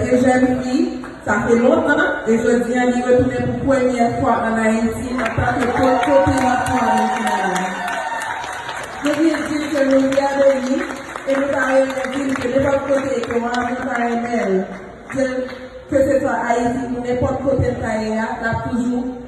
Se jèn fi, sa fè lontan, e jodi an li retounen pou premyè fwa an Ayiti antanke pòtpopulans nwa Brezilyen an. Nou vle di l ke nou fyè de li, e nou ta renmen di l ke nenpòt kote ke w anvi w ta renmen l di l, kesewa Ayiti ou nenpòt kote l ta ye a, l ap toujou.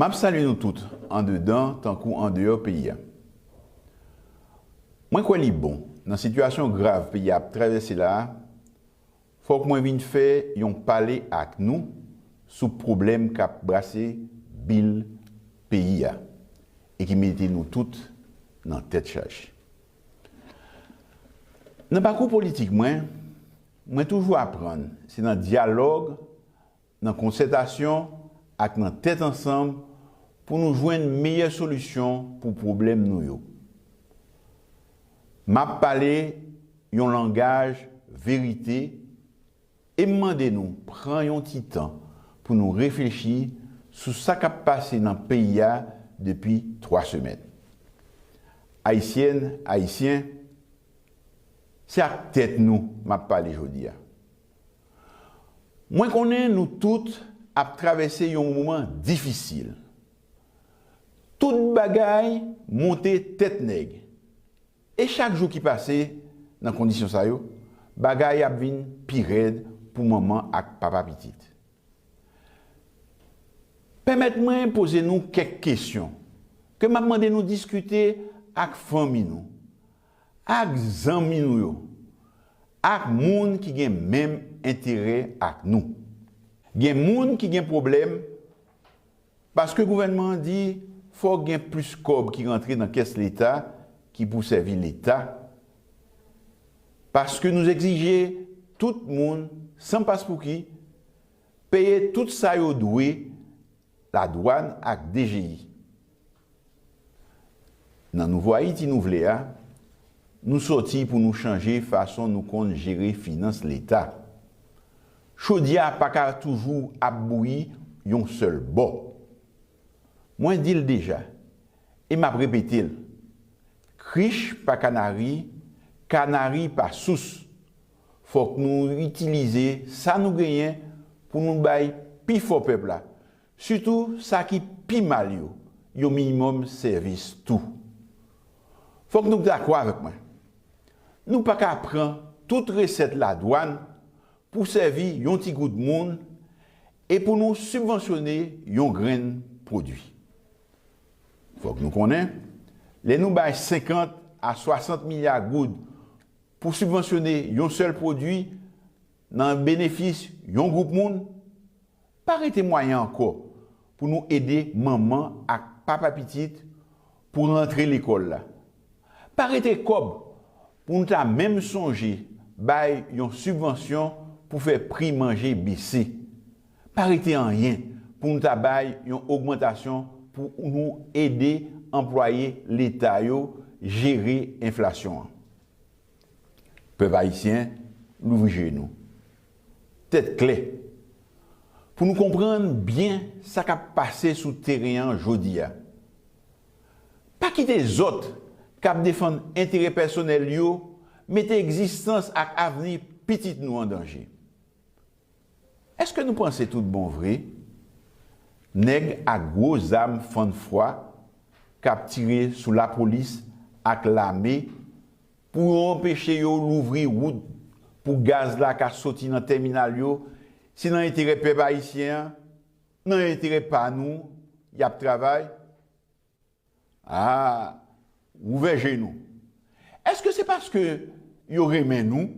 Map salye nou tout andedan tankou andeyò peyi a. Mwen kwè li bon, nan sitiyasyon grav peyi a ap travèse la a, fòk mwen vin fè yon pale ak nou sou pwoblèm kap brase bil peyi a e ki mete nou tout nan tèt chaje. Nan pakou politik mwen, mwen toujou aprann se nan dyalòg nan konsètasyon ak nan tèt ansanm pou nou jwenn meyè solisyon pou pwoblèm nou yo. M ap pale yon langaj verite e m mande nou pran yon ti tan pou nou reflechi sou sa k ap pase nan peyi a depi 3 semèn. Ayisyèn, Ayisyen, se ak tèt nou m ap pale jodi a. Mwen konnen nou tout ap travèse yon moman difisil. Tout bagay monte tèt nèg. E chak jou ki pase nan kondisyon sa yo, bagay ap vin pi rèd pou manman ak papa pitit. Pèmèt mwen poze nou kèk kesyon ke m ap mande nou diskite ak fanmi nou, Ak zanmi nou yo. Ak moun ki gen menm enterè ak nou. Gen moun ki gen pwoblèm paske gouvènman an di fòk gen plis kòb ki rantre nan kès leta ki pou sèvi leta paske nou egzije tout moun san paspouki peye tout sa yo dwe ladwàn ak dgi. Nan nouvo Ayiti nou vle a, nou sòti pou nou chanje fason nou konn jere finans leta. Chodyè a pa ka toujou ap bouyi yon sèl bò. Mwen di l deja e m ap repete l, krich pa kanari, kanari pa sous. Fòk nou itilize sa nou genyen pou nou bay pi fò pèp la. Sitou sa ki pi mal yo, yon minimòm sèvis tou. Fòk nou dakò avèk mwen, nou pa ka pran tout resèt ladwàn pou sèvi yon ti gwoup moun e pou nou sibvansyone yon grenn pwodui. Fòk nou konnen, lè nou bay 50 a 60 milya goud pou sibvansyone yon sèl pwodui, Nan benefis yon gwoup moun, pa rete mwayen ankò pou nou ede manman ak papa pitit pou rantre lekòl la. Pa rete kòb pou nou ta menm sonje bay yon sibvansyon pou fè pri manje bese. Pa rete anyen pou nou ta bay yon ogmantasyon pou nou ede anplwaye leta yo jere enflasyon an. Pèp Ayisyen, louvri je nou. Tèt klè. Pou nou konprann byen sa k ap pase sou teren an jodi a. Pa kite zòt k ap defann enterè pèsonèl yo mete egzistans ak avni pitit nou an danje. Eske nou panse tout bon vre nèg ak gwo zam fann fwa kap tire sou lapolis ak lame pou yo anpeche yo louvri wout pou gaz la ka soti nan tèminal yo se nan enterè pèp ayisyen an, nan enterè pa nou yap travay? Aa! Ouvè je nou. Eske se paske yo renmen nou?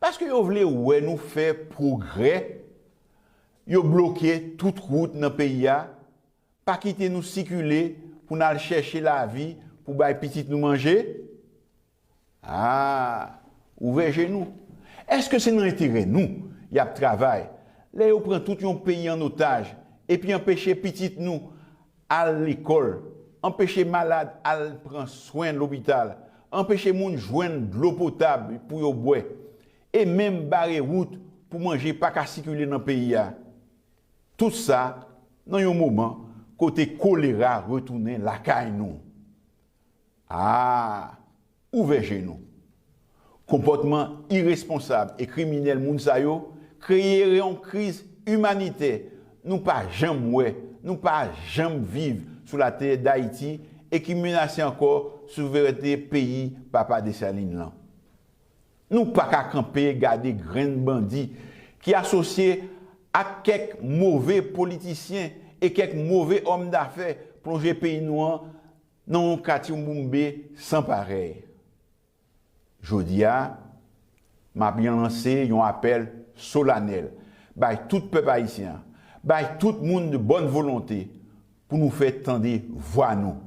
Paske yo vle wè nou fè pwogrè, yo bloke tout wout nan peyi a, pa kite nou sikile pou n al chèche lavi pou bay pitit nou manje? Haa! Ouvè je nou! Eske se nan enterè nou y ap travay lè yo pran tout yon peyi an otaj epi anpeche pitit nou al lekòl, anpeche malad al pran swen lopital, anpeche moun jwenn dlo potab pou yo bwè, e menm bare wout pou manje pa ka sikile nan peyi a? Tout sa nan yon moman kote kolera retounen lakay nou. Aa! Ouvè je nou! Konpòtman iresponsab e kriminèl moun sa yo kreyere yon kriz imanitè nou pa janm wè, nou pa janm viv sou latè Dayiti e ki menase ankò souverènte peyi Papa Dessalines lan. Nou pa ka kanpe gade grenn bandi ki asosye ak kèk move politisyen e kèk move òm dafè plonje peyi nou an nan yon katyoumboumbé san parèy. Jodi a, m ap yon lanse yon apèl solanèl bay tout pèp ayisyen an, bay tout moun de bòn volonte Pou nou fè tande vwa nou.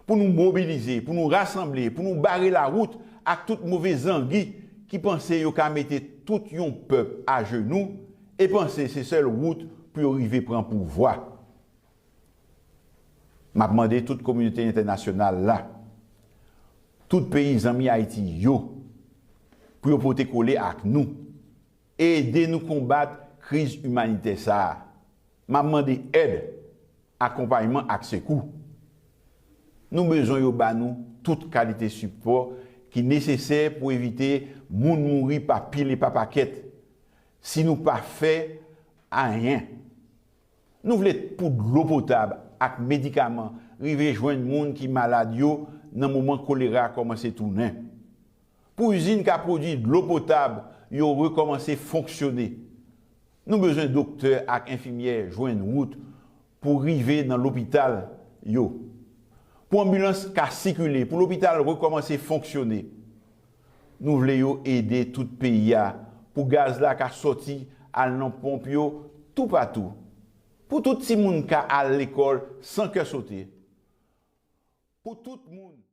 Pou nou mobilize, pou nou rasanble, pou nou bare lawout ak tout move zangi ki panse yo ka mete tout yon pèp ajenou e panse se sèl wout pou yo rive pran pouvwa. M ap mande tout kominote entènasyonal la, tout peyi zanmi Ayiti yo, pou yo pote kole ak nou, Ede nou konbat kriz imanitè sa a. M ap mande èd, akonpayman ak sekou. Nou bezwen yo ba nou tout kalite sipò ki nesesè pou evite moun mouri pa pil e pa pakèt, si nou pa fè anyen. Nou vle pou dlo potab ak medikaman rive jwenn moun ki malad yo nan moman kolera kòmanse tounen. Pou izin ka pwodui dlo potab yo rekòmanse fonksyone, nou bezwen doktè ak enfimyè jwenn wout pou rive nan lopital yo, pou anbilans ka sikile, pou lopital rekòmanse fonksyone. Nou vle yo ede tout peyi a pou gaz la ka sòti al nan ponp yo toupatou, pou tout timoun ka al lekòl san kè sote, pou tout moun.